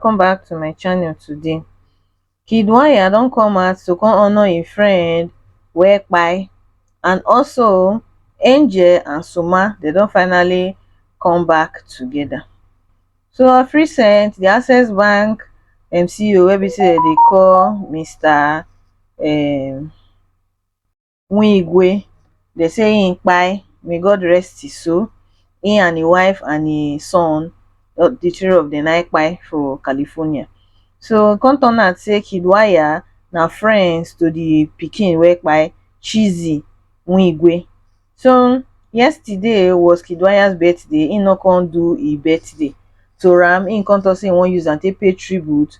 welcome back to my channel today kid wanya don come out to come honor im friend wekpai and also angel and suma they don finally come back together so of recent the access bank mco wey be say dem dey call mr um, Nwigwe, dem say im kpai, may God rest his soul, im and im wife and im son, di three of dem na im kpai for California. So e come turn out say Kiddwaya na friends to di pikin wey kpai, Chizzy Nwigwe. So yesterday was Kiddwaya's birthday, im no come do im birthday to am, im come talk say im wan use am take pay tribute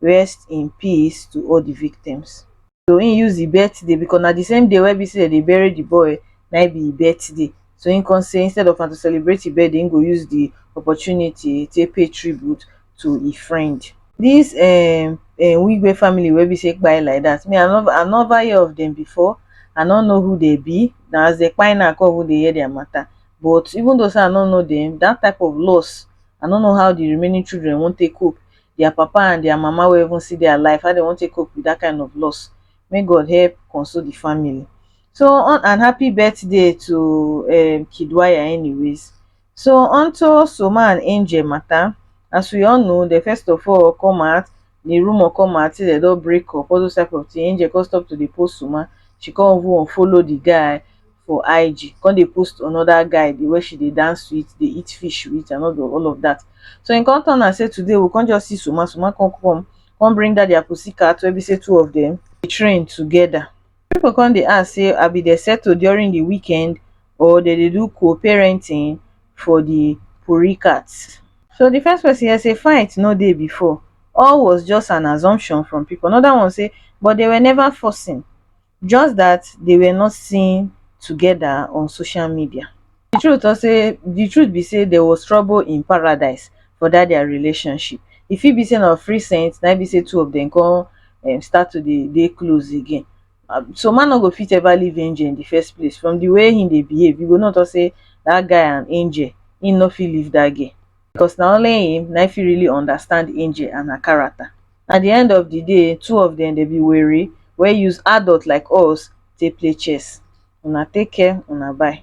rest in peace to all the victims so he use the birthday because na the same day wey be say they bury the boy na e be him birthday so he come say instead of am to celebrate him birthday he go use the opportunity take pay tribute to him friend this um um wigwe family wey be say kpai like that me i no i never hear of them before i no know who they be na as they kpai now i come even dey hear their matter but even though say i no know them that type of loss i no know how the remaining children wan take cope their papa and their mama wey even see their life how dey wan take cope with that kind of loss make God help console the family so on and happy birthday to um, Kidwaya anyways so onto Soma and Angel matter as we all know the first of all come out the rumor come out say they don break up all those type of thing Angel come stop to dey post Soma she come even follow the guy for IG come dey post another guy the way she dey dance with, dey eat fish with and all all of that. So e come turn am say today we come just see Suma, Suma come come, come bring that their pussycat wey be say two of them dey train together. People come dey ask say abi dey settle during the weekend or they dey do co-parenting for the puricat. So the first person here say fight no dey before, all was just an assumption from people. Another one say but they were never forcing, just dat dey were not seen togeda on social media. Di truth tok say di truth be say there was trouble in paradise for dat dia relationship, e fit be say na of recent na im be say two of dem come um start to dey dey close again, um so man no go fit ever leave Angel in di first place from di way im dey behave you go know tok say dat guy and Angel im no fit leave dat girl. because na only him na him fit really understand angel and her character at the end of the day two of them dey be were wey use adult like us take play chess una take care una bye